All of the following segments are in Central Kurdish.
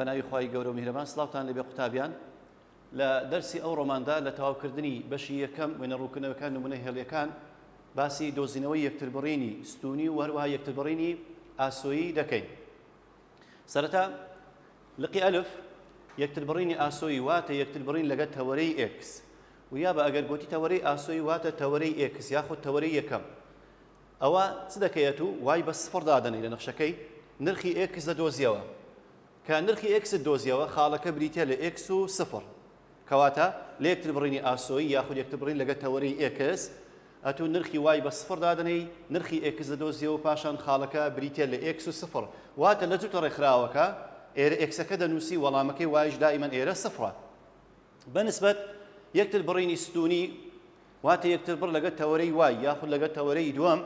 بەناوی خی گەورە و میرەمان سلااوان لەبێ قوتابیان لە دەرسی ئەو ڕۆماندا لە تەواوکردنی بەشی یەکەم وێنە ڕووکنەوەکان نمونە هێڵیەکان باسی دۆزینەوەی یەکتربڕینی ستونی و هەروەها یەکتربڕینی ئاسۆیی دەکەین سەرەتا لقی ئەلف یەکتربڕینی ئاسۆیی واتە یەکتربڕین لەگە تەوەرەی ئێکس و یا بە ئەگەر گۆتی تەوەرەی ئاسۆیی واتە تەوەرەی ئێکس یاخود تەوەرەی یەکەم ئەوە چ دەکەیەت و وای بە سفڕ دادەنەی لە نەخشەکەی نرخی ئێکس دەدۆزیەوە کە نرخی ئێکس دۆزیەوە خاڵەکە بریتە لە ئێکس و سفر کەواتە لە یەکتربڕینی ئاسۆیی یاخود یەکتربڕین لەگەل تەوەرەی ئێکس ئەتوو نرخی وای بە سفڕ دادەنێی نرخی ئێکس دەدۆزیەوە پاشان خاڵەکە بریتیە لە ئێکس و سفڕ واتە لە جووتە ڕێکخراوەکە ئێرە ئێکسەکە دەنووسی وەڵامەکەی وایش دائیمەن ئێرە سفڕە بە نسبەت یەکتر بڕینی ستوونی واتە یەکتر بڕ لەگەل تەوەرەی وای یاخود لەگەل تەوەرەی دووەم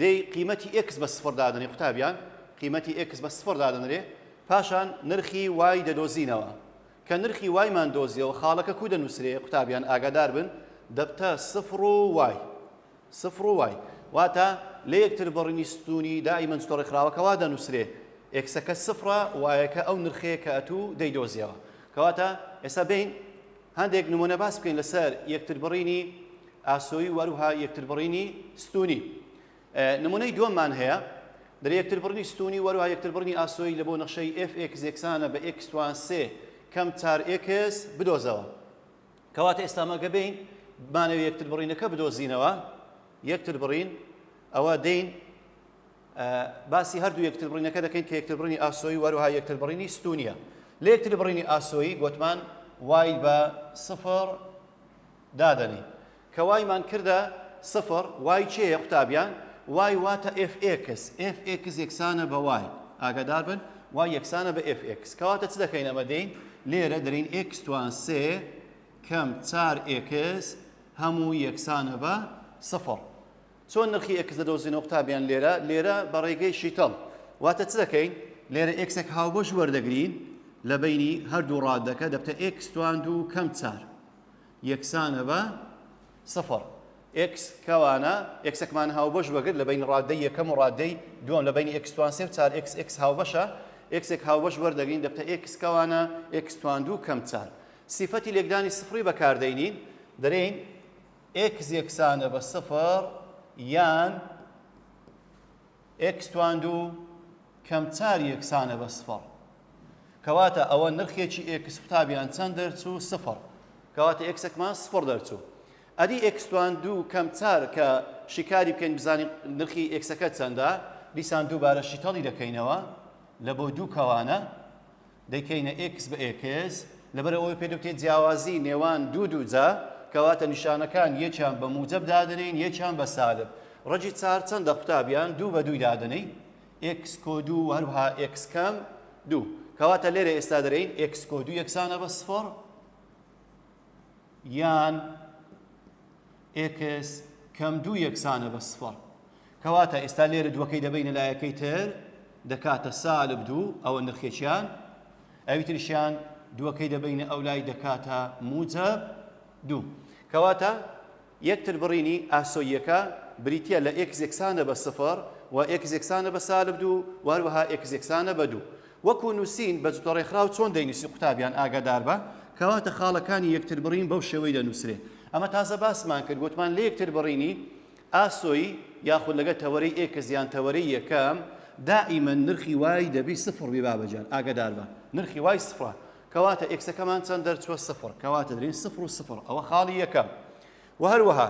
دەی قیمەتی ئێکس بە سفڕ دادەنێ قوتابیان قیمەتی ئێکس بە سفڕ دادەنرێ پاشان نرخی وای دەدۆزینەوە کە نرخی وایمان دۆزیەوە خاڵەکە کوو دەنووسرێ قوتابیان ئاگادار بن دەبتە سفر و وای سفر و وای واتە لە یەکتر بڕینی ستوونی دائیمەن جتۆ ڕێکخراوەکە وا دەنووسرێ ئێکسەکە سفرە وایەکە ئەو نرخەیە کە ئەتوو دەیدۆزیەوە کەواتە ئێستا بێین هەندێک نمونە باس بکەین لەسەر یەکتر بڕینی ئاسۆی وەروها یەکتر بڕینی ستوونی نمونەی دوەممان هەیە برێ یەکتربڕنی ستونی وەروها یەکتربڕنی ئاسۆیی لەبۆ نەخشەی ئێف ئێکس یەکسانە بە ئێکس توان سێ کەم چار ئێکس بدۆزەوە کەواتە ئێستا مەگە بین بمانەوە یەکتر بڕینەکە بدۆزینەوە یەکتر بڕین ئەوە دەین باسی هەردوو یەکتر بڕینەکە دەکەین کە یەکتر بڕینی ئاسۆی وەروها یەکتر بڕینی ستونیە لە یەکتر بڕینی ئاسۆی گوتمان وای بە سفر دادەنی کە وای مان کردە سفر وای چێە قوتابیان وای واتە ئێف ئێکس ئێف ئێکس یەکسانە بە وای ئاگادار بن وای یەکسانە بە ئێف ئێکس کەواتە چ دەکەین ئەمە دێین لێرە دەرین ئێکس توان سێ کەم چار ئێکس هەموو یەکسانە بە سفر چۆن نرخی ئێکس دەدۆزینەوە قوتابیان لێرە لێرە بە ڕێگەی شیتەڵ واتە چ دەکەین لێرە ئێکسێک هاوبەش وەردەگرین لە بینی هەردوو ڕادەکە دەبتە ئێکس توان دوو کەم چار یەکسانە بە سفر. ئێکس کەوانە ئێکسەکمان هاوبەش بەگرت لە بەین ڕاددەی یەکەم و ڕاددەی دووەم لە بەینی ئێکس توان سێ و چار ئێکس ئێکس هاوبەشە ئێکسێک هاوبەش وەردەگرین دەبتە ئێکس کەوانە ئێکس توان دوو کەم چار سیفەتی لێکدانی سفڕی بەکاردەینین دەرێین ئێکس یەکسانە بە سفر یان ئێکس تواندوو کەم چار یەکسانە بە سفڕ کەواتە ئەوە نرخێکی ئێکس قوتابیان چەند دەرچوو سفڕ کەواتە ئێکسەکمان سفڕ دەرچوو ئەدی ئێکس تواندوو کەم چار کە شیکاری بکەین بزانین نرخی ئێکسەکە چەندە دیسان دووبارە شیتەڵی دەکەینەوە لە بۆ دوو کەوانە دەیکەینە ئێکس بە ئێکس لەبەر ئەوەی پێدەوتێت جیاوازی نێوان دوو دووجا کەواتە نیشانەکان یەکیان بە موجب دادەنین یەکیان بە سالب ڕەجی چار چەندە قوتابیان دوو بە دووی دادەنی ئێکس کۆ دوو هەروها ئێکس کەم دوو کەواتە لێرە ئێستا دەرین ئێکس کۆ دوو یەکسانە بە سفر یان ئێکس کەم دوو یەکسانە بە سفەڕ کەواتە ئێستا لێرە دووەکەی دەبینە لایەکەی تر دەکاتە سالب دوو ئەوە نرخێکیان ئەوی ترشیان دووەکەی دەبینە ئەو لای دەکاتە موجە دوو کەواتە یەکتربڕینی ئاسۆییەکە بریتییە لە ئێکس یەکسانە بە سفر و ئێکس یەکسانە بە سالب دوو و هەروەها ئێکس یەکسانە بە دوو. وەکو نووسین بە جوتەڕێکخراو چۆن دەینووسی قوتابیان ئاگاداربە، کەواتە خاڵەکانی یەکتربڕین بەو شێوەی دەنووسرێ. ئەمە تازە باسمان کرد گوتمان لە یەکتربڕینی ئاسۆیی یاخود لەگەڵ تەوەرەی ئێکس یان تەوەرەی یەکەم، دائیمەن نرخی وای دەبی سفر بی بابەجان ئاگاداربە نرخی وای سفرە کەواتە ئێکسەکەمان چەند دەرچووە سفر کەواتە دەین سفر و سفر ئەوە خاڵی یەکەم و هەروەها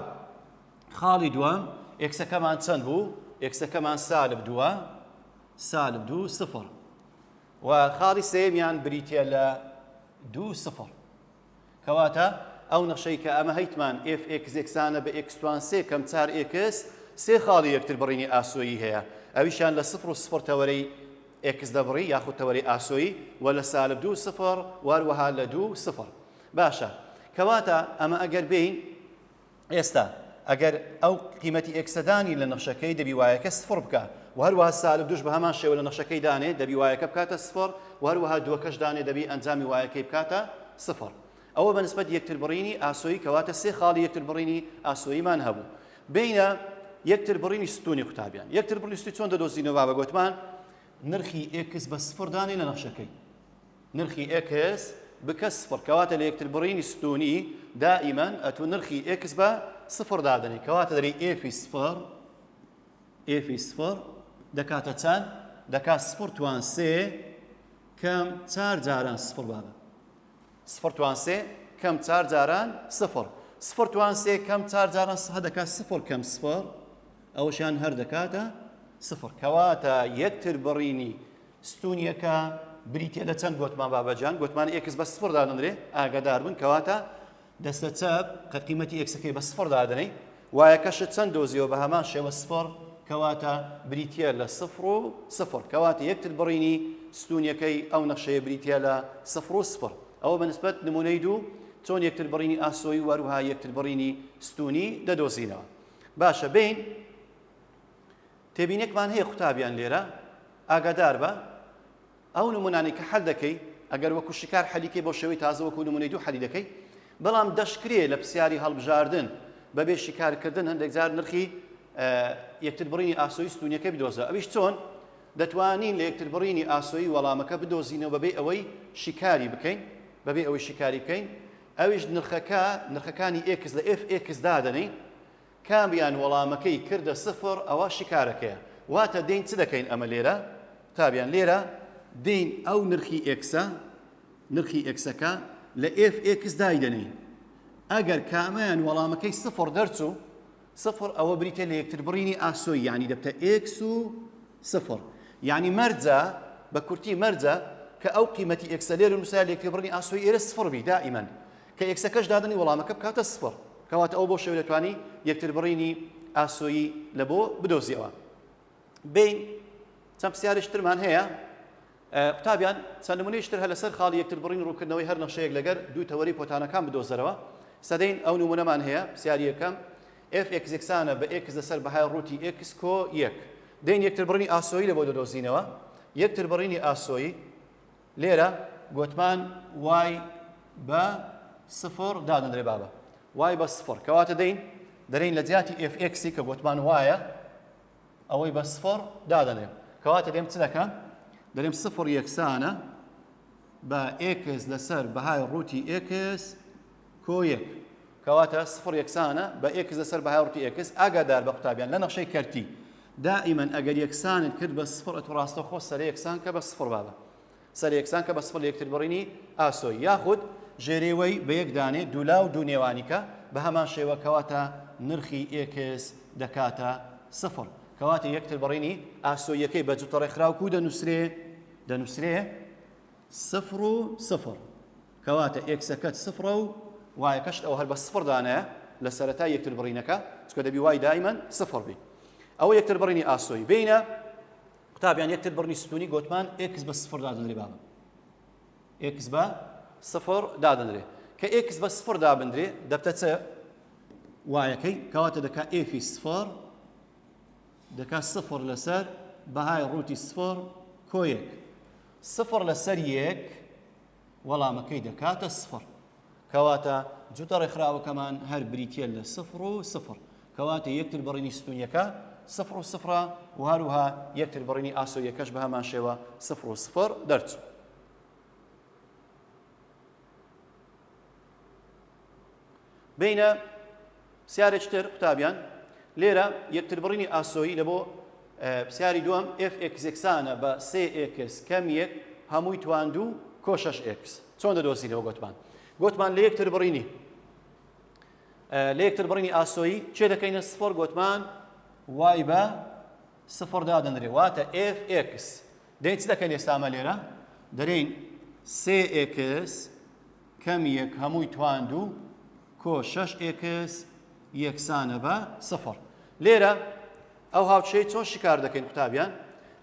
خاڵی دووەم ئێکسەکەمان چەند بوو ئێکسەکەمان سالب دووە سالب دوو سفر و خاڵی سێمیان بریتە لە دوو سفر کەواتە ئەو نەخشەی کە ئەمە هەیتمان FXێکسانە بە ئێکسوان سێ کەم چار ئێکس سێ خاڵی یەکتر بڕینی ئاسۆیی هەیە ئەویشان لە سفر و سفر تەوەرەی ئێکس دەبڕی یاخود تەوەری ئاسۆیی وە لە سالب دوو سفڕ واروەها لە دوو سفڕ باشە کەواتە ئەمە ئەگەر بێین ئێستا ئەگەر ئەو قیمەتی ئێکسە دانی لە نەخشەکەی دەبی وایەکە سفڕ بکە و هەروەها سالب دوش بە هەمان شێوە لە نەخشەکەی دانێ دەبی وایەکە بکاتە سفڕ و هەروەها دووەکەش دانێ دەبی ئەنجامی وایەکەی بکاتە سفڕ ئەوە بە نسبەت یەکتر بڕینی ئاسۆیی کەواتە سێ خاڵی یەکتر بڕینی ئاسۆییمان هەبوو بینە یەکتر بڕینی ستونی قوتابیان یەکتر بڕی ستی چۆن دەدۆزینەوە بە گوتمان نرخی ئێکس بە سفر دانێ لە نەخشەکەی نرخی ئێکس بکە سفر کەواتە لە یەکتر بڕینی ستونی دائیمەن ئەتو نرخی ئێکس بە سفر دادنی کەواتە دەری ئێفی سفر ئێفی سفر دەکاتە چەند دەکات سفر توان سێ کەم چار جاران سفر بابە سفر توان سێ کەم چار جاران سفر سفر توان سێ کەم چار جاران سه دەکات سفر کەم سفر ئەوشان هەر دەکاتە سفر کەواتە یەکتر بڕینی ستونیەکە بریتە لە چەند گوتمان بابەجان گوتمان ئێکس بە سفر دادەنرێ ئاگادار بن کەواتە دەستە چەپ کە قیمەتی ئێکسەکەی بە سفر دادەنەی وایەکەشت چەند دۆزیەوە بە هەمان شێوە سفر کەواتە بریتە لە سفر و سفر کەواتە یەکتر بڕینی ستونیەکەی ئەو نەخشەیە بریتە لە سفر و سفر ئەوە بەنسبەت نمونەی دوو چۆن یەکتر بڕینی ئاسۆی وەروها یەکتر بڕینی ستونی دەدۆزینەوە باشە بین تێبینێکمان هەیە قوتابیان لێرە ئاگادار بە ئەو نمونانەی کە حەل دەکەی ئەگەر وەکو شکار حەلی کەی بۆ شێوەی تازە وەکو نمونەی دوو حەلی دەکەی بەڵام دەشکرێ لە پسیاری هەڵبژاردن بەبێ شیکارکردن هەندێک جار نرخی یەکتر بڕینی ئاسۆی ستونیەکە بدۆزە ئەویش چۆن دەتوانین لە یەکتر بڕینی ئاسۆی وەڵامەکە بدۆزینەوە بەبێ ئەوەی شیکاری بکەین بەبێ ئەوەی شیکاری بکەین ئەویش نرخەکە نرخەکانی ئێکس لە ئف ئێکس دادەنین کامیان وەڵامەکەی کردە سفر ئەوە شیکارەکەیە واتە دێین چ دەکەین ئەمە لێرە قوتابیان لێرە دێین ئەو نرخی ئێکسە نرخی ئێکسەکە لە ئێف ئێکس دایدەنێین ئەگەر کامیان وەڵامەکەی سفر دەرچوو سفر ئەوە بریتە لە یەکتر بڕینی ئاسۆی یعنی دەبتە ئێکس و سفر یعنی مەرجە بە کورتی مەرجە کە ئەو قیمەتی ئێکسە لێرە نووسە لە یەکتر بڕینی ئاسۆی ئێرە سفر بی دائیمەن کە ئێکسەکەش دادەنی وەڵامەکە بکاتە سفڕ، کەواتە ئەو بەو شێوەیە دەتوانی یەکتربڕینی ئاسۆیی لە بۆ بدۆزیەوە. بین چەند پرسیارێکی ترمان هەیە قوتابیان، چەند نمونەیەکی تر هەر لەسەر خاڵی یەکتربڕینی ڕوونکردنەوەی هەر نەخشەیەک لەگەر دوو تەوەرەی پۆتانەکان بدۆزەرەوە. سەدەین ئەو نمونەمان هەیە، پرسیاری یەکەم، ئێف ئێکس یەکسانە بە ئێکس لەسەر بەهای ڕووتی ئێکس کۆ یەک. دەین یەکتربڕینی ئاسۆیی لە بۆ دەدۆزینەوە، یەکتربڕینی ئاسۆیی. لێرە گۆتمان وای بە سفڕ دادەندرێ بابە وای بە سفڕ کەواتە دەین دەرین لە جیاتی ئف ئێکسی کە گۆتمان وایە ئەوەی بە سفڕ دادەنێ کەواتە دێم چ دەکەم دەرێم سفڕ یەکسانە بە ئێکس لەسەر بەهای ڕووتی ئێکس کۆ یەک، کەواتە سفڕ یەکسانە بە ئێکس لەسەر بەهای ڕووتی ئێکس، ئاگادار بە قوتابیان لە نەخشەی کەرتی، دائیمەن ئەگەر یەکسانت کرد بە سفڕ ئەتوو ڕاستەوخۆ سەرە یەکسان کە بە سفڕ بابە سەرە یەکسان کە بە سفڕ لە یەکتر بڕینی ئاسۆی یاخود ژێرەی وەی بە یەک دانێ دوولا و دوو نێوانی کە بە هەمان شێوە کەواتە نرخی ئێکس دەکاتە سفڕ کەواتە یەکتر بڕینی ئاسۆیەکەی بە جوتە ڕێکخراو کو دەنووسرێ دەنووسرێ سفڕ و سفڕ کەواتە ئێکسەکەت سفڕە و وایەکەشت ئەوە هەر بە سفڕ دانایە لە سەرەتای یەکتربڕینەکە چونکە دەبی وای دایمەن سفڕ بی ئەوە یەکتربڕینی ئاسۆی بینە قوتابیان یەکتر بڕنی ستونی گۆتمان ئێکس بە سفر دادنرێ بابە ئێکس بە سفر دادنرێ کە ئێکس بە سفر دابندرێ دەبتە چ وایەکەی کەواتە دەکا ئێفی سفر دەکا سفر لەسەر بەهای ڕووتی سفر کۆیەک سفر لەسەر یەک وەڵامەکەی دەکاتە سفڕ کەواتە جوتە ڕێکخراوەکەمان هەر بریتە لە سفر و سفر کەواتە یەکتر بڕینی ستونیەکە سفر و سفرە و هەروها یەکتر بڕینی ئاسۆیەکەش بە هەمان شێوە سفر و سفر دەرچوو بینە پسیارێکی تر قوتابیان لێرە یەکتربڕینی ئاسۆیی لە بۆ پسیاری دووەم FXێکسانە بە سێکس کەم یەک هەمووی تواندوو کۆشەش ئێکس چۆن دەدۆسینەوە گوتمان گوتمان لە یەکتر بڕینی لە یەکتر بڕینی ئاسۆیی چێ دەکەینە سفۆر گوتمان وای بە سفر دادەنرێ واتە FX دەین چ دەکەین ئێستامە لێرە دەرین سێکس کەم یەک هەمووی توان دوو کۆ شەش ئێکس یەکسانە بە سفر لێرە ئەو هاوچەی چۆن شکار دەکەین قوتابیان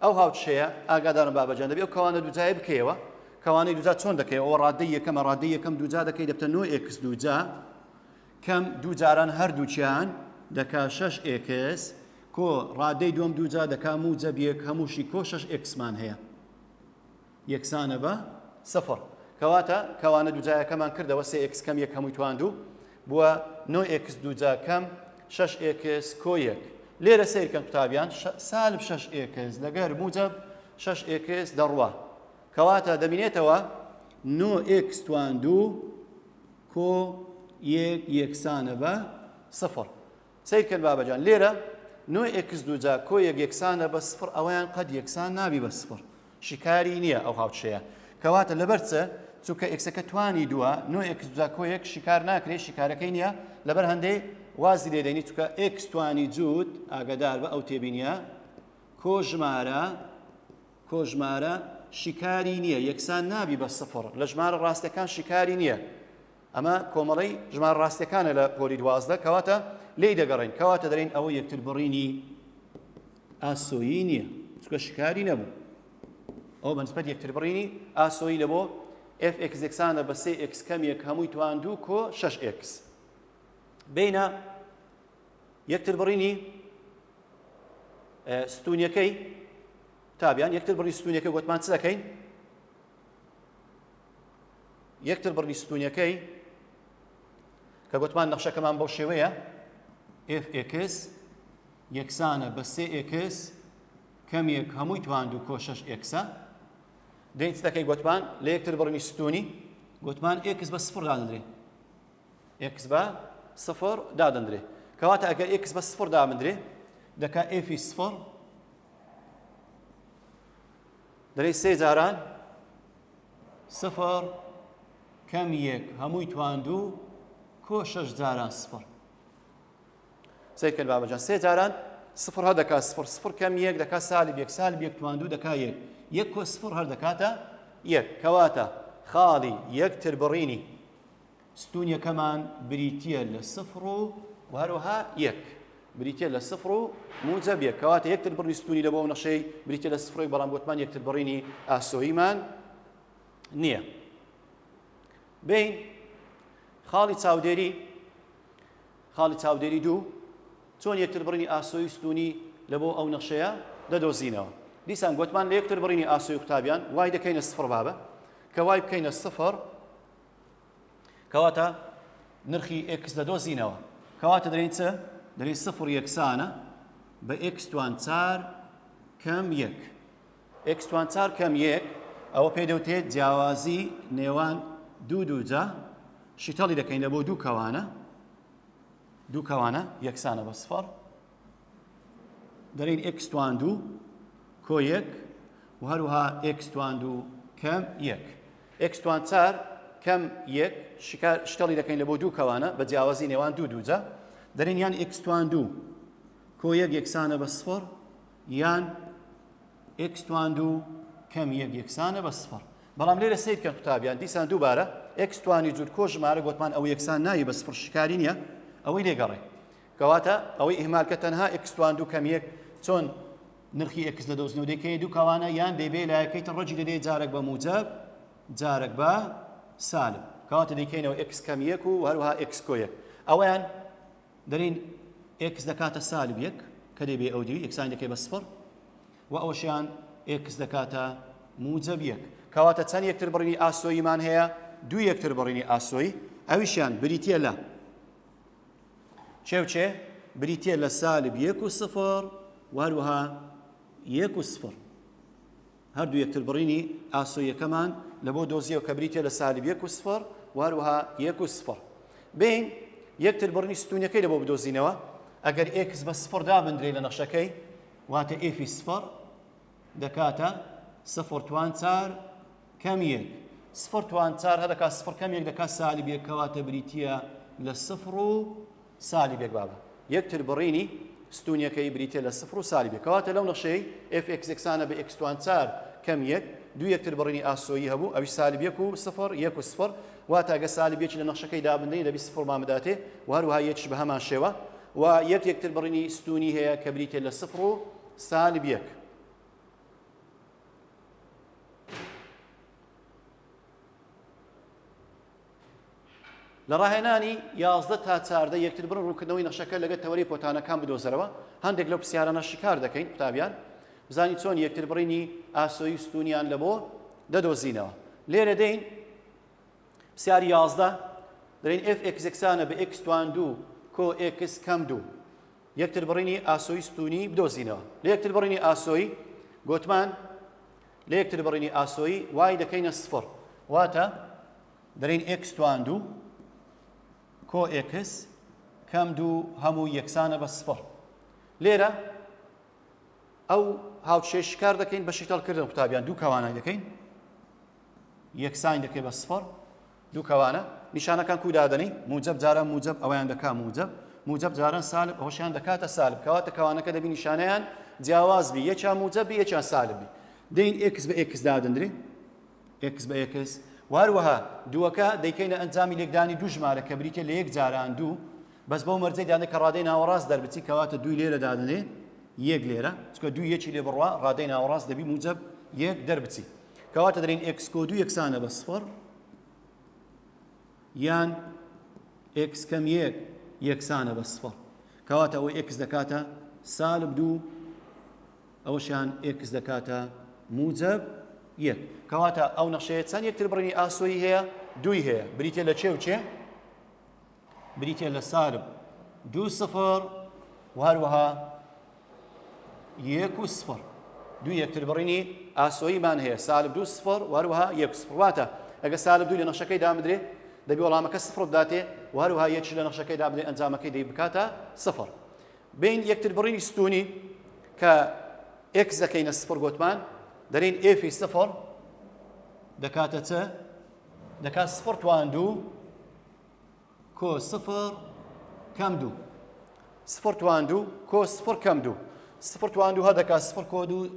ئەو هاوچەیە ئاگادارم بابەجان دەبێت ئەو کەوانە دوجای بکەیەوە کەوانەی دوجا چۆن دەکەی ئەوە ڕادەی یەکەمە ڕادەی یەکەم دوجا دەکەی دەبتە نۆ ئێکس دوجا کەم دوو جاران هەردووچیان دەکا شش ئێکس کۆ ڕادەی دوم دوجا دەکا موجە بیەک هەمووشی کۆ شش ئێکسمان هەیە یەکسانە بە سفر. کەواتە کەوانە دووجایەکەمان کردەوە سێ ئێکس کەم یەک هەمووی تواند و بووە نۆ ئێکس دووجا کەم شەش ئێکس کۆ یەک. لێرە سەیرکەن قوتابیان سالب شەش ئێکس لەگەر موجەب شەش ئێکس دەڕوا. کەواتە دەمینێتەوە نۆ ئێکس تواند و کۆ یەک یەکسانە بە سفر. سەیر کەن بابە جان لێرە نۆ ئێکس دووجا کۆ یەک یەکسانە بە سفر ئەوەیان قەد یەکسان نابی بە سفر شیکاری نییە ئەو هاوچەیە کەواتە لەبەرچە چونکە ئێکسەکە توانی دووە نۆ ئێکس دووجا کۆ یەک شیکار ناکرێت شیکارەکەی نییە لەبەر هەندەی وازی لێدەنی چکە ئێکس توانی جووت ئاگادار بە ئەو تێبینیە کۆ ژمارە کۆ ژمارە شیکاری نییە یەکسان نابی بە سفر لە ژمارە ڕاستەکان شیکاری نییە ئەمە کۆمەڵەی ژمارە ڕاستیەکانە لە پۆلی دوازدە کەواتە لێی دەگەڕێین کەواتە دەرین ئەوە یەکتر بڕینی ئاسۆیی نییە چکە شکاری نەبوو ئەو بەنسبەت یەکتر بڕینی ئاسۆیی لە بۆ f x یەکسانە بە سێ x کەمێک هەمووی توان دوو کۆ 6 x بینە یەکتر بڕینی ستونیەکەی تابیان یەکتر بڕی ستونیەکە گوتمان چ دەکەین یەکتر بڕنی ستونیەکەی کە گوتمان نەخشەکەمان بەو شێوەیە ئف ئێکس یەکسانە بە سێ ئێکس کەمێک هەمووی تواند و کۆشەش ئێکسە دەیتەکەی گوتمان لە یەکتر بڕنی ستونی گوتمان ئێکس بە سفر دادەندرێ ئێکس بە سفر دادەندرێ کەواتە ئەگەر ئێکس بە سفر دامندرێ دەکا ئێفی سفر دەڵێ سێ جاران سفر کەم یەک هەمووی تواندوو کۆ شەش جاران سفر سەیرکرد بابەجان سێ جاران سفر هەر دەکات سفر سفر کەم یەک دەکات سالی یەک سال یەک تواندوو دەکات یەک یەک کۆ سفر هەر دەکاتە یەک کەواتە خاڵی یەکتر بڕینی ستوونیەکەمان بریتییە لە سفر و و هەروەها یەک بریتە لە سفر و موجە بێ کەواتە یەکتر بڕی ستونی لە بۆ نەشەی بریتە لە سفرۆی بەڵام گوتمان یەکتر بڕینی ئاسۆیمان نییە بین خاڵی چاودێری خاڵی چاودێری دوو چۆن یەکتر بڕینی ئاسۆی ستونی لە بۆ ئەو نەخشەیە دەدۆزینەوە دیسان گوتمان لە یەکتر بڕینی ئاسۆی قوتابیان وای دەکەینە سفر بابە کە وای بکەینە سفر کەواتە نرخی ئکس دەدۆزینەوە کەواتە دەین چ دەی سفر یەکسانە بە ئکسوان چار کەم یەک ئکسوان چار کەم یەک ئەوە پێ دەوتێت جیاوازی نێوان دوو دووجا شیتەڵی دەکەین لە بۆ دوو کەوانە دوو کەوانە یەکسانە بە سفر دەڵین ئێکس توان دوو کۆ یەک و هەروها ئێکس توان دوو کەم یەک ئێکس توان چار کەم یەک شکڵی دەکەین لە بۆ دوو کەوانە بە جیاوازی نێوان دوو دووجە دەرین یان ئێکس توان دوو کۆ یەک یەکسانە بە سفر یان ئێکس توان دوو کەم یەک یەکسانە بە سفر بەڵام لێرە سیر کە قوتابیان دیسان دووبارە ئێکس توانی جوود کۆ ژمارە گوتمان ئەو یەکسان ناوی بە سفر شکاری نییە ئەوەی لێگەڕێ کەواتە ئەوەی ئیهمال کە تەنها ئێکس تواند و کەمیەک چۆن نرخی ئێکس دەدۆزنەوە دەکەی دوو کەوانە یان دەیبێ لایەکەی تە ڕەجی دەدەی جارێک بە موجەب جارێک بە سالب کەواتە دەیکەینەوە ئێکس کەم یەک و هەروها ئێکس کۆ یەک ئەویان دەرین ئێکس دەکاتە سالب یەک کە دەبێ ئەو دوی ئێکسان دەکەی بە سفر و ئەوشیان ئێکس دەکاتە موجەب یەک کەواتە چەند یەکتر بڕینی ئاسۆیمان هەیە دوو یەکتر بڕینی ئاسۆی ئەویشیان بریتە لە چێ و چێ بریتییە لە سالب یەک و سفر و هەروەها یەک و سفر هەردوو یەکتر بڕینی ئاسۆیەکەمان لە بۆ دۆزیەوە کە بریتە لە سالب یەک و سفر و هەروەها یەک و سفر بین یەکتر بڕنی ستونەکەی لە بۆ بدۆزینەوە ئەگەر ئێکس بە سفر دابندرێ لە نەخشەکەی واتە ئێفی سفر دەکاتە سفر توان چار کەم یەک سفر توان چار هە دەکات سفر کەم یەک دەکات سالی بێک کەواتە بریتە لە سفر و سالی بێک بابە یەکتر بڕینی ستونیەکەی بریتە لە سفر و سالی بێک کەواتە لەو نەخشەی FXXانە بە ئکسوان چار کەم یەک دو یەکتر بڕینی ئاسۆیی هەبوو ئەوی سالی بێک و سفر یەک و سفر واتاگە سالی بێکی لە نەخشەکەی دابندنی لەبی سفر مامداتێ و هەروها یەکش بە هەمان شێوە و یەک یەکتر بڕینی ستونی هەیە کە بریتە لە سفر و سالب یەک. لە ڕاهێنانی یازدە تا چاردە یەکتر بڕ ڕووکردنەوەی نەخشەکە لەگە تەوەری پۆتانەکان بدۆزەرەوە هەندێک لەو پرسیارانە شکار دەکەین قوتابیان بزانین چۆن یەکتر بڕینی ئاسۆی ستونیان لە بۆ دەدۆزینەوە لێرە دەین سیاری یازدە دەین F ئەکسەکسانە بە ئەکسوان دوو کۆ ئەکس کەم دوو یەکتربڕینی ئاسۆی ستوونی بدۆزینەوە لە یەکتربڕینی ئاسۆی گۆتمان لە یەکتربڕینی ئاسۆی وای دەکەینە سفڕ واتە دەرین ئێکس توان دوو کۆ ئێکس کەم دوو هەموو یەکسانە بە سفڕ لێرە ئەو هاوچێ شکار دەکەین بە شیتەڵکردن قوتابیان دوو کەوانای دەکەین یەکسانی دەکەی بە سفڕ دوو کەوانە نیشانەکان کوو دادەنێی موجەب جاران موجەب ئەوەیان دەکا موجەب موجەب جاران سالب ئەوەشیان دەکاتە سالب کەواتە کەوانەکە دەبی نیشانەیان جیاواز بی یەکیان موجەب بی یەکیان سالب بی دەین ئێکس بە ئێکس دادەندرێ ئێکس بە ئێکس واروەها دووەکە دەیکەینە ئەنجامی لێکدانی دوو ژمارە کە بریتە لە یەک جاران دوو بەس بەو مەرجەی دانێ کە ڕادەی ناوەڕاست دەربچی کەواتە دووی لێرە دادنێ یەک لێرە چکە دوو یەکی لێ بڕوا ڕادەی ناوەڕاست دەبی موجب یەک دەربچی کەواتە دەرین ئێکس کۆ دوو یەکسانە بە سفڕ یان ئێکس کەم یەک یەکسانە بە سفڕ کەواتە ئەوەی ئێکس دەکاتە سالب دوو ئەوەشیان ئێکس دەکاتە موجب یەک کەواتە ئەو نەخشەیە چەند یەکتر بڕینی ئاسۆی هەیە دوی هەیە بریتە لە چێ و چێ بریتییە لە سالب دوو سفر و هەروەها یەک و سفر دوو یەکتر بڕینی ئاسۆییمان هەیە سالب دوو سفر و هەروەها یەک سفر واتە ئەگە سالب دوو لە نەخشەکەی دامدرێ دەبێ وەڵامەکە سفر بداتێ و هەروەها یەکش لە نەخشەکەی دابدرێ ئەنجامەکەی دەی بکاتە سفر بین یەکتر بڕینی ستونی کە ئێکس دەکەینە سفر گوتمان دەرین ئێفی سفر دەکاتە چە دەکات سفر توان دوو کۆ سفر کەم دوو سفر تواندو کۆ سفر کەم دوو سفر تواندو هە دەکات سفر کۆ دوو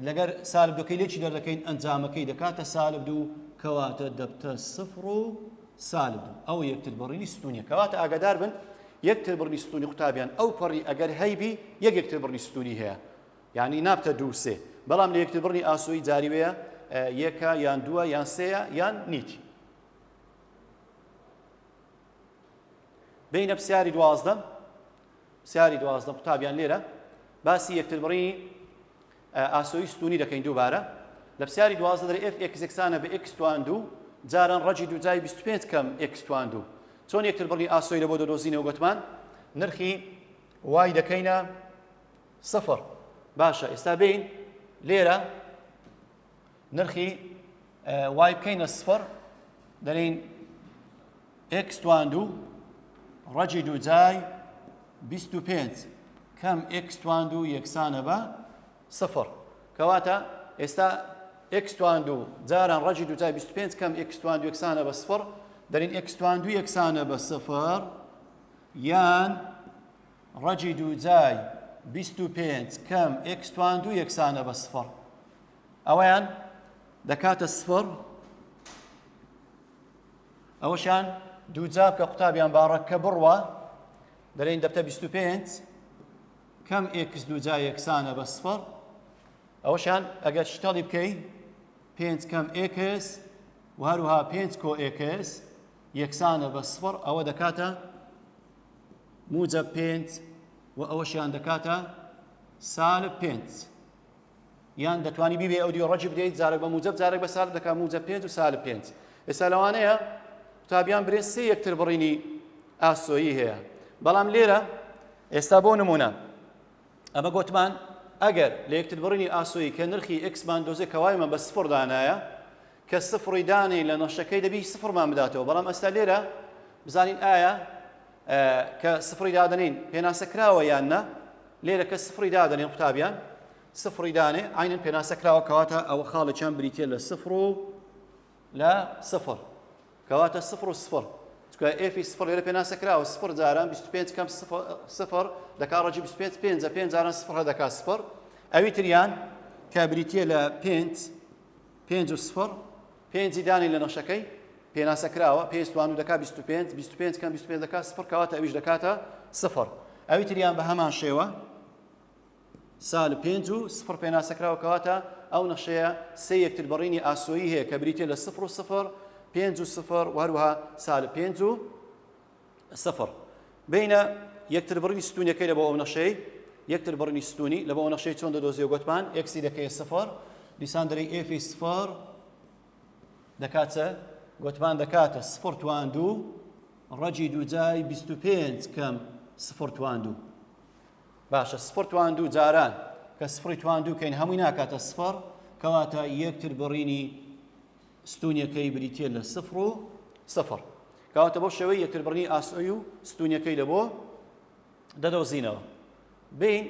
لەگەر سالب دوکەی لێکی دەردەکەین ئەنجامەکەی دەکاتە سالب دوو کەواتە دەبتە سفر و سالب دوو ئەو یەکتر بڕینی ستونیە کەواتە ئاگادار بن یەکتر بڕنی ستونی قوتابیان ئەو پەڕی ئەگەر هەیبی یەک یەکتر بڕنی ستونی هەیە یعنی نابتە دوو سێ بەڵام لە یەکتر بڕنی ئاسۆی جاریوەیە یەکە یان دووە یان سەیە یان نیتی بینە پرسیاری دوازدە پرسیاری دوازدە قوتابیان لێرە باسی یەکتربڕینی ئاسۆی ستونی دەکەین دووبارە لە پرسیاری دوازدە دەر ئف ئەکسێکسانە بە ئکس توان دوو جاران ڕەجی دوو جای 25 کەم ئکس توان دوو چۆن یەکتر بڕی ئاسۆی لە بۆ دەدۆزینەوە گوتمان نرخی وای دەکەینە سفر باشە ئێستا بین لێرە نرخی وای بکەینە سفر دەرین ئکس توان دوو ڕەجی دووجای 25 کەم ئکس توان دوو یەکسانە بە سفر کەواتە ئێستا ئکس توان دوو جاران ڕەجی دووجای 25 کەم ئکس توان دوو یەکسانە بە سفر دەرین ئکس توان دوو یەکسانە بە سفر یان ڕەجی دووجای 25 کەم ئکس توان دوو یەکسانە بە سفر ئەوەیان دەکاتە سفڕ ئەوەشان دووجار کە قوتابیان باڕە کە بڕوە دەلێن دەبتە 25 کەم ئێکس دووجا یەکسانە بە سفڕ ئەوەشان ئەگەر شتەڵی بکەی پێنج کەم ئێکس و هەروها پێنج کۆ ئێکس یەکسانە بە سفڕ ئەوە دەکاتە موجە پێنج و ئەوەشیان دەکاتە سالب پێنج یان دەتوانی بیبێ ئەودیو ڕەجی بدەیت جارێک بە موجب جارێک بە سالب دەکات موجب پێنج و سالب پێنج ئێستا لەوانەیە قوتابیان برێ سێ یەکتر بڕینی ئاسۆیی هەیە بەڵام لێرە ئێستا بۆ نمونە ئەمە گوتمان ئەگەر لە یەکتر بڕینی ئاسۆیی کە نرخی ئەکسمان دۆزێ کەوایمە بە سفر دانایە کە سفری دانی لە نەشەکەی دەبی سفرمان بداتەوە بەڵام ئەستا لێرە بزانین ئایا کە سفری دادنین پێناسە کراوە یان نە لێرە کە سفڕی دادەنێن قوتابیان سفڕی دانێ عینەن پێناسە کراوە کەواتە ئەوە خاڵێکیان بریتە لە سفر و لە سفر کەواتە سفر و سفر چکە ئێفی سفر لێرە پێناسە کراوە سفر جاران 25 کەم سفر دەکا ڕەجی 25 پێنج پێنج جاران سفر دەکا سفر ئەوی تریان کە بریتە لە پێنج پێنج و سفڕ، پێنجی دانێین لە نەخشەکەی پێناسە کراوە، پێنج توانو دەکات بیست و پێنج، بیست و پێنج کەم بیست و پێنج دەکات سفڕ، کەواتە ئەویش دەکاتە سفڕ. ئەوی تریان بە هەمان شێوە، سالب پێنج و سفڕ پێناسە کراوە، کەواتە ئەو نەخشەیە سێ یەکتربڕینی ئاسۆیی هەیە کە بریتییە لە سفر و سفر، پێنج و سفر و هەروەها سالب پێنج و سفر بینە یەکتر بڕینی ستونیەکەی لە بۆ ئەو نەخشەی یەکتر بڕینی ستونی لە بۆ نەخشەی چۆن دەدۆزیەوە گوتمان ئێکسی دەکەی سفر دیسان دەری ئێفی سفر دەکاتە گوتمان دەکاتە سفر توان دوو ڕەجی دووجای 25 کەم سفر توان دوو باشە سفر توان دوو جاران کە سفری توان دووکەین هەمووی ناکاتە سفر کەواتە یەکتر بڕینی ستونیەکەی بریتە لە سفر و سفر کەواتە بەو شێوەی یەکتربڕنی ئاسۆی و ستونیەکەی لەبۆ دەدۆزینەوە بین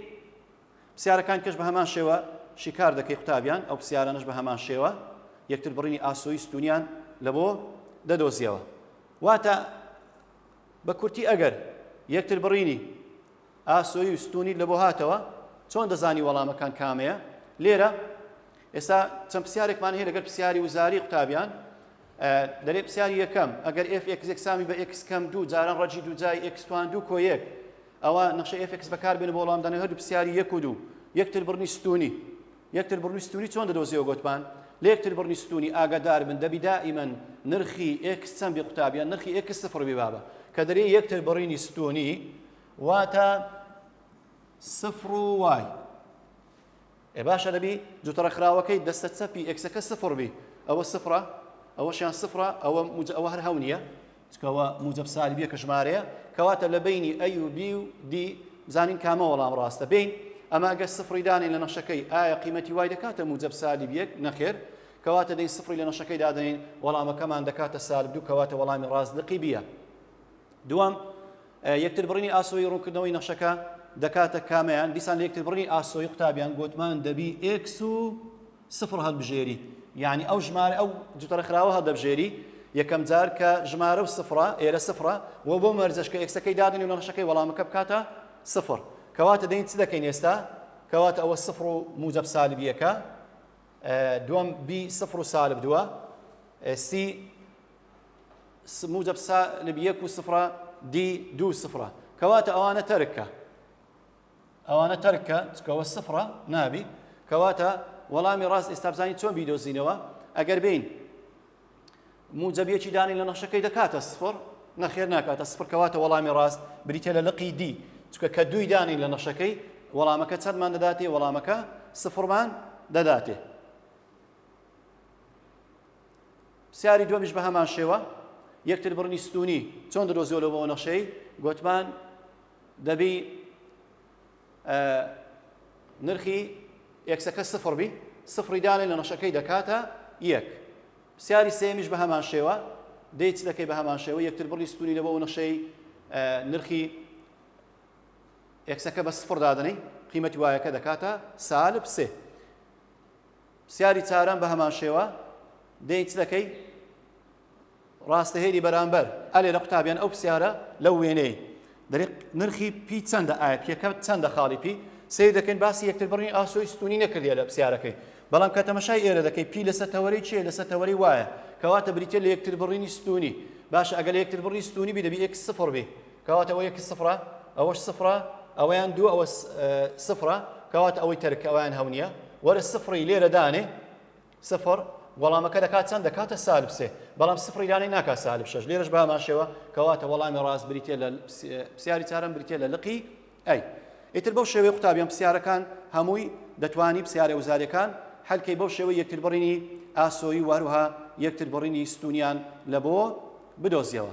پرسیارەکان کەش بە هەمان شێوە شیکار دەکەی قوتابیان ئەو پرسیارانش بە هەمان شێوە یەکتر بڕینی ئاسۆی ستونیان لە بۆ دەدۆزیەوە واتە بە کورتی ئەگەر یەکتر بڕینی ئاسۆیی و ستوونی لەبۆ هاتەوە؟ چۆن دەزانی وەڵامەکان کامەیە؟ لێرە ئێستا چەند پرسیارێکمان هەیە لەگەر پرسیاری وزاری قوتابیان دەرێ پرسیاری یەکەم ئەگەر ئف ئێکس یەکسامی بە ئێکس کەم دوو جاران ڕەجی دوو جای ئێکستوان دوو کۆیەک ئەوە نەخشە ئف ئێکس بەکار بێن بۆ وەڵام دانە هەردوو پرسیاری یەک و دوو یەکتر بڕنی ستونی یەکتر بڕنی ستونی چۆن دەدۆزیەوە گوتمان لە یەکتر بڕنی ستونی ئاگادار بن دەبی دائیمەن نرخی ئێکس چەند بێ قوتابیان نرخی ئێکس سفر بێ بابە کە دەرێ یەکتر بڕینی ستونی واتە سفر و وای ئێ باشە دەبی جوتڕە خراوەکەی دەستە چەپی ئێکسەکە سفر بی ئەوە سفرە ئەوەشیان سفرە ئەوە ئەوە هەر هەو نییە چکەوە موجب سالبیە کە ژمارەیە کەواتە لە بینی ئەی و بی و دی بزانین کامە وەڵام ڕاستە بین ئەما گە سفری دانین لە نەشەکەی ئایا قیمەتی وای دەکاتە موجب سالب یەک نەخێر کەواتە دەین سفری لە نەشەکەی دادەین وەڵامەکەمان دەکاتە سالب دوو کەواتە وەڵامی ڕاست لقی بیە دوام یەکتربڕینی ئاسۆیی ڕوونکردنەوەی نەخشەکە دەکاتە کامەیان؟ دیسان لە یەکتربڕینی ئاسۆیی قوتابیان گۆتمان دەبی ئێکس و سفر هەلبژێری یعنی ئەو ژمارە ئەو جوتەرە خراوە هەدەبژێری یەکەم جار کە ژمارە و سفرە ئێرە سفرە و بۆ مەرجەش کە ئێکسەکەی دادنی و نەخشەکەی وەڵامەکە بکاتە سفر کەواتە دەین چ دەکەین ئێستا کەواتە ئەوە سفر و موجب سالبیەکە دوم بی سفر و سالب دووە سی س موجب س لب یەک و سفرە دی دوو سفرە کەواتە ئەوانە تەرکە ئەوانە تەرکە چکەوە سفرە نابی کەواتە وەڵامی ڕاست ئێستابزانی چۆن بیدۆزینەوە ئەگەر بین موجبیەکی دانی لە نەخشەکەی دەکاتە سفر نەخێر ناکاتە سفر کەواتە وەڵامی ڕاست بریتە لە لقی دی چکە کە دووی دانی لە نەخشەکەی وەڵامەکە چەندمان دەداتێ وەڵامەکە سفرمان دەداتێ پرسیاری دووەمیش بە هەمان شێوە، یەکتر بڕنی ستوونی چۆن دەدۆزیەوە لەو وەنەخشەی؟ گۆتمان دەبی نرخی ئێکسەکە سفڕ بی، سفڕی دانێ لە نەخشەکەی دەکاتە یەک. پرسیاری سێیەمیش بە هەمان شێوە، دەی چ دەکەی بە هەمان شێوە، یەکتر بڕی ستوونی لە بۆ نەخشەی نرخی ئێکسەکە بە سفڕ دادەنەی، قیمەتی وایەکە دەکاتە سالب سێ. پرسیاری چارەم بە هەمان شێوە دەین چ دەکەی ڕاستە هێری بەرامبەر ئەلێ لە قوتابیان ئەو پرسیارە لەو وێنەی دەری نرخی پی چەندە ئایا پیەکە چەندە خاڵی پی سیر دەکەین باسی یەکتر بڕین ئاسۆی ستونی نەکردە لە پرسیارەکەی بەڵام کە تەمەشای ئێرە دەکەی پی لەسەر تەوەری چیە لەسەر تەوەری وایە کەواتە بریتە لە یەکتر بڕینی ستونی باشە ئەگەر لە یەکتر بڕی ستونی بی دەبی ئێکس سفڕ بی کەواتە ئەوە یەک سفرە ئەوەش سفرە ئەوەیان دوو ئەوە سفرە کەواتە ئەوەی تەرک ئەویان هەو نییە وەرە سفری لێرە دانێ سفر وەڵامەکە دەکات چەند دەکاتە سالب سێ بەڵام سفری دانێ ناکا سالب شش لێرەش باماشەوە کەواتە وەڵامی ڕاست بریتە لە پرسیاری چارم بریتە لە لقی ئەی ئیتر بەو شێوەی قوتابیان پرسیارەکان هەمووی دەتوانی پرسیارە وزارەکان هەلکەی بەو شێوەی یەکتر بڕینی ئاسۆی وهروها یەکتر بڕینی ستونیان لە بۆ بدۆزیەوە